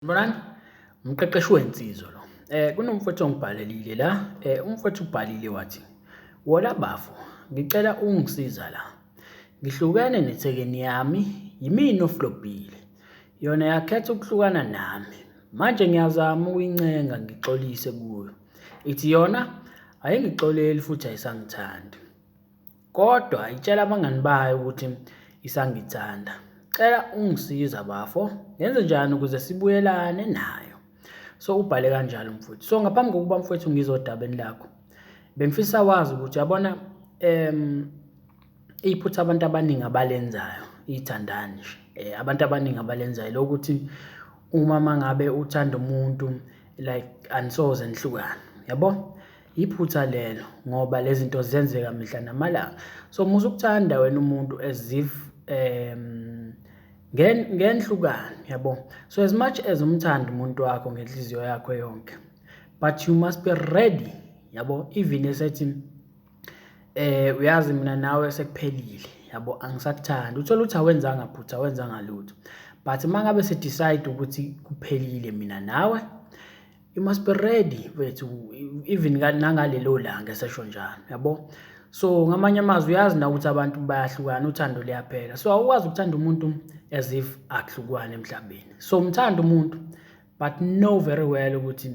Mbonani umqeqeshi wensizwa lo. Eh kunomfowethu ongibhalelile la, eh umfowethu ubhalile wathi wona bafo ngicela ungisiza la. Ngihlukene nethekeni yami yimina oflobhile. Yona yakhetha ukuhlukana nami. Manje ngiyazama ukuyincenga ngixolise kuyo. Ithi yona ayingixoleli futhi ayisangithandi. kodwa itshela abangani bayo ukuthi isangithanda cela ungisiza bafo ngenze njani ukuze sibuyelane nayo so ubhale kanjalo mfowethu so ngaphambi kokuba mfowethu ngizodabeni lakho bengifisa wazi ukuthi yabona em iphutha abantu abaningi abalenzayo ithandani nje eh, abantu abaningi abalenzayo lokuthi uma mangabe uthanda umuntu like anisoze nihlukane yabo Iphutha lelo ngoba lezi zinto zenzeka mihla namalanga so musa ukuthanda wena umuntu as if um ngenhlukani yabo so as much as umthanda umuntu wakho ngenhliziyo yakho yonke but you must be ready yabo even esethi eh uyazi mina nawe sekuphelile yabo angisakuthandi uthola ukuthi awenzanga phutha wenzanga lutho but mangabe se decide ukuthi kuphelile mina nawe You must be ready mfethu even nangalelo langa esesho njalo yabo. So ngamanye amazwi uyazi na ukuthi abantu bayahlukana uthando liyaphela. So awukwazi ukuthanda umuntu as if akuhlukwane emhlabeni. So umthanda umuntu but know very well ukuthi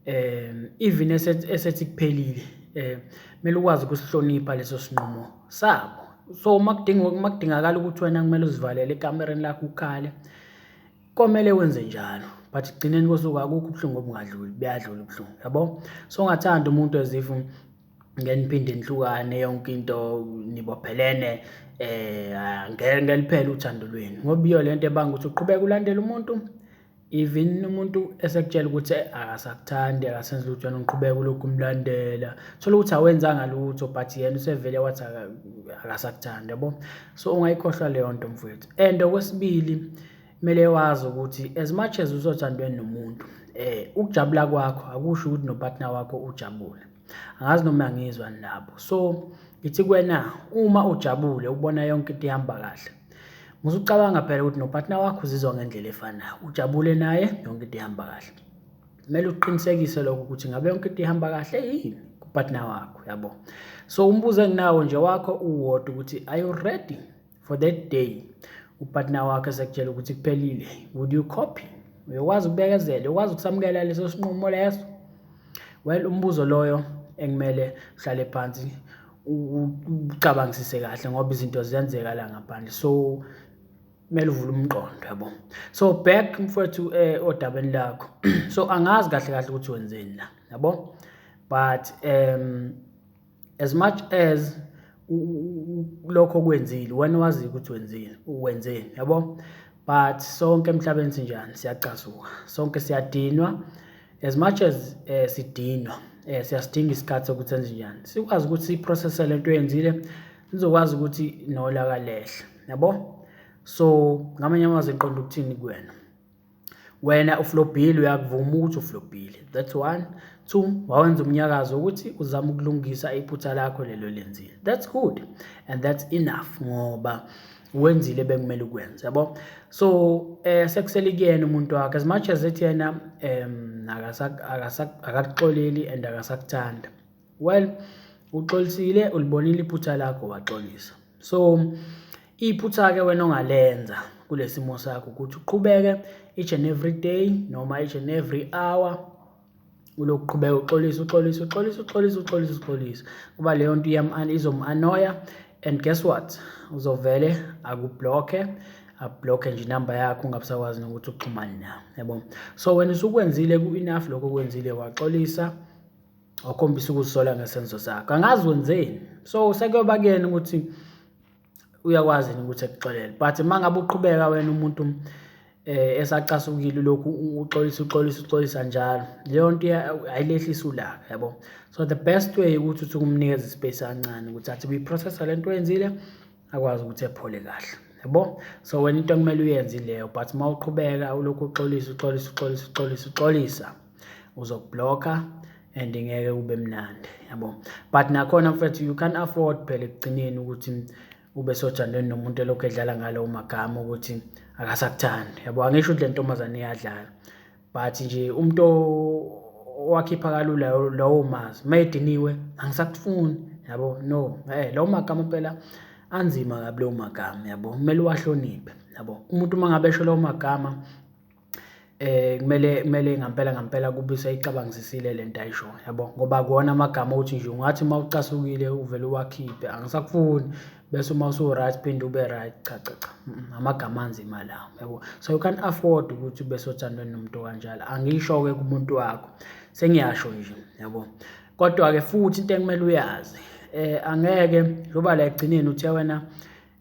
um even esethi esethi kuphelile eh kumele ukwazi ukusihlonipha leso sinqumo sabo so uma kudinga uma kudingakala ukuthi wena kumele uzivalele ekamereni lakho ukhale komele wenze njalo but gcineni kosuku akukho ubuhlungu obungadluli buyadlula ubuhlungu yabo so ngathanda umuntu ezifu ngeniphinde nihlukane yonke into nibophelene eh ngeke ngeliphele uthando lweni ngoba iyo lento ebanga ukuthi uqhubeka ulandela umuntu even umuntu esekutshela ukuthi akasakuthandi akasenzi lutho yena uqhubeka ulokhu umlandela thola ukuthi awenzanga lutho but yena usevele wathi akasakuthandi yabo so ungayikhohlwa leyo nto mfowethu and okwesibili kumele wazi ukuthi as much as usothandweni nomuntu eh ukujabula kwakho akusho ukuthi nopartner wakho ujabule angazi noma ngizwa nabo so ngithi kwena uma ujabule ubona yonke into ihamba kahle musucabanga phela ukuthi nopartner wakho uzizwa ngendlela efanayo ujabule naye yonke into ihamba kahle kumele uqinisekise lokho ukuthi ngabe yonke into ihamba kahle yini kupartner wakho yabo so umbuzo enginawo nje wakho uwodwa ukuthi are you ready for that day upartner wakho esekutshela ukuthi kuphelile would you copy uyokwazi ukubekezela uyokwazi ukusamukela leso sinqumo leso well umbuzo loyo engimele uhlale phansi ucabangisise kahle ngoba izinto ziyenzeka la ngaphandle so kumele uvule umqondo yabo so back mfowethu eh odabeni lakho so angazi kahle kahle ukuthi wenzeni la yabo but um as much as lokho kwenzile wena wazi ukuthi wenzile wenzeni yabo but sonke emhlabeni sinjani siyacasuka sonke siyadinwa as much as eh, sidinwa eh, siyasidinga isikhathi sokuthi senze njani sikwazi ukuthi siprocesse lento yenzile sizokwazi ukuthi nolaka lehle yabo so ngamanye amazwi iqonda ukuthini kuwena wena uflobhile uyakuvuma ukuthi uflobhile that's one two wawenza umnyakazo ukuthi uzama ukulungisa iphutha lakho lelo lenzile that's good and that's enough ngoba wenzile bekumele ukwenze yabo so eh sekusele kuyena umuntu wakhe as much as ethi yena em akasakuxoleli and akasakuthanda Well uxolisile ulibonile iphutha lakho waxolisa. So iphutha ke wena ongalenza kulesimo sakho ukuthi uqhubeke each and every day noma each and every hour ulokuqhubeka uxolisa uxolisa uxolisa uxolisa uxolisa uxolisa kuba leyo nto izom-anoya and guess what uzovele akublokhe ablokhe nje inamba yakho ungabusakwazi nokuthi uxhumane nayo yabo so wena usukwenzile ku-enough lokho kwenzile waxolisa wakhombisa ukuzisola ngesenzo sakho angazi wenzeni so sekuyoba kuyena ukuthi uyakwazi yini ukuthi ekuxolele but uma ngabe uqhubeka wena umuntu um esacasukile lokhu uxolisa uxolisa uxolisa njalo leyo nto ayilehlisa ulaka yabo so the best way ukuthi uthi kumnikeza ispace kancane ukuthi athi uyiprocessa le nto oyenzile akwazi ukuthi ephole kahle yabo so wena into okumele uyenze ileyo but uma uqhubeka ulokhu uxolisa uxolisa uxolisa uxolisa uxolisa uzokublocker and ngeke kube mnandi yabo but nakhona mfethu you can afford phela ekugcineni ukuthi ube sojandweni nomuntu elokhu edlala ngalowo magama ukuthi akasakuthandi yabo angisho ukuthi le ntombazane iyadlala but nje umuntu owakhipha kalula lowo mazi uma ediniwe angisakufuni yabo no eh lowo magama phela anzima kabi lowo magama yabo kumele uwahloniphe yabo umuntu uma ngabe esho lowo magama eh kumele kumele ngampela ngampela kube useyicabangisisile lento ayisho yabo ngoba kuwona amagama ukuthi nje ungathi uma ucasukile uvele uwakhiphe angisakufuni bese uma usu right phinde ube right cha cha cha amagama anzima lawo yabo so you can afford ukuthi ube sothandweni nomuntu kanjalo angisho ke kumuntu wakho sengiyasho nje yabo kodwa ke futhi into ekumele uyazi eh angeke njoba la egcineni uthe wena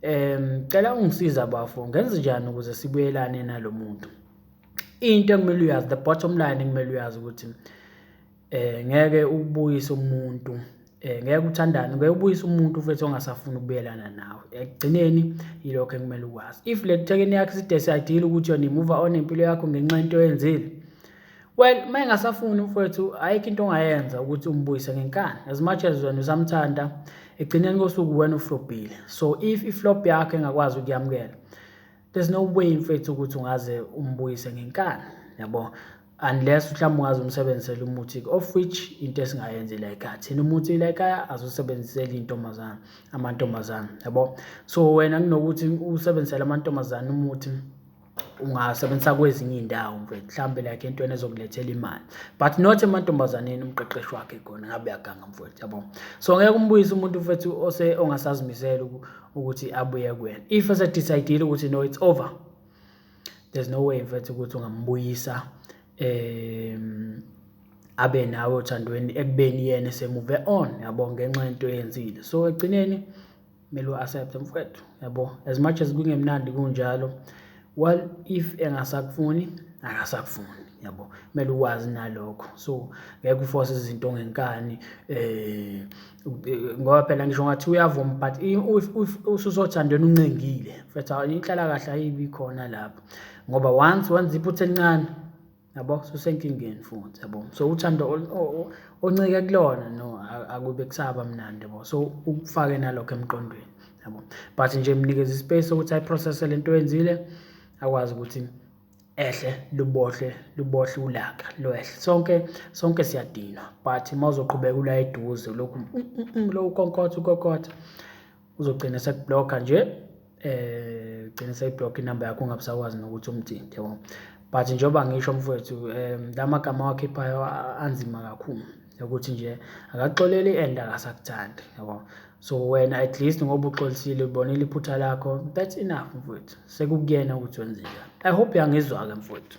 Um cela ungisiza bafo ngenze njani ukuze sibuyelane nalo muntu. Into ekumele uyazi the bottom line ekumele uyazi ukuthi eh ngeke ubuyise umuntu eh ngeke uthandane ngeke ubuyise umuntu mfethu ongasafuni ukubuyelana nawe ekugcineni yilokho ekumele ukwazi if le thekeni yakhe side siyadila ukuthi yona imuva on impilo yakho ngenxa into oyenzile Well, uma engasafuni umfowethu ayikho into ongayenza ukuthi umbuyise ngenkani. As much as wena usamthanda, ekugcineni kosuku wena uflopile. So if iflop yakho engakwazi ukuyamukela, there's no way mfethu ukuthi ungaze umbuyise ngenkani. Yabo? Unless mhlawumbe ungaze umsebenzisele umuthi of which into esingayenzi la ekhaya. Thina umuthi la ekhaya azosebenzisela intombazana, amantombazana. Yabo? So wena kunokuthi usebenzisele amantombazana umuthi ungasebenzisa kwezinye iy'ndawo mfethu mhlawumbe like entweni ezokulethela imali but not emantombazaneni umqeqeshi wakhe khona ngabe uyaganga mfethu yabo so ngeke umbuyise umuntu mfethu ose ongasazimisele ukuthi abuye kuwena if esedecide-ile ukuthi no it's over there's no way mfethu ukuthi ungambuyisa um abe nawe othandweni ekubeni yena esemuve on yabo ngenxa yento eyenzile so ekugcineni kumele u-accept mfwethu yabo as much as kungemnandi kunjalo well if engasakufuni akasakufuni yabo kumele uwazi nalokho so ngeke uforce izinto ngenkani eh ngoba phela ngisho ngathi uyavuma but if usuzothandweni uncengile mfethu inhlala kahle ayibi khona lapho ngoba once wenza iphutha elincane yabo susenkingeni futhi yabo so uthando oncike kulona no akube kusaba mnandi yabo so ukufake nalokho emqondweni yabo but nje mnikeza ispace sokuthi ayiprocesse lento oyenzile akwazi ukuthi ehle lubohle lubohle ulaka lwehle sonke sonke siyadinwa but mawuzoqhubeka ula eduze lokhu mm, mm, mm, lo ukonkotha ukonkotha uzogcina esekublocker nje eh gcina sekublock inamba yakho ungabusakwazi nokuthi umthinte yabo but njengoba ngisho mfowethu um la magama awakhiphayo anzima kakhulu ukuthi nje akaxoleli and akasakuthandi yabo so wena at least ngoba uxolisile ubonile iphutha lakho that's enough mfowethu sekukuyena ukuthi wenze njani i hope yangizwa-ke mfowethu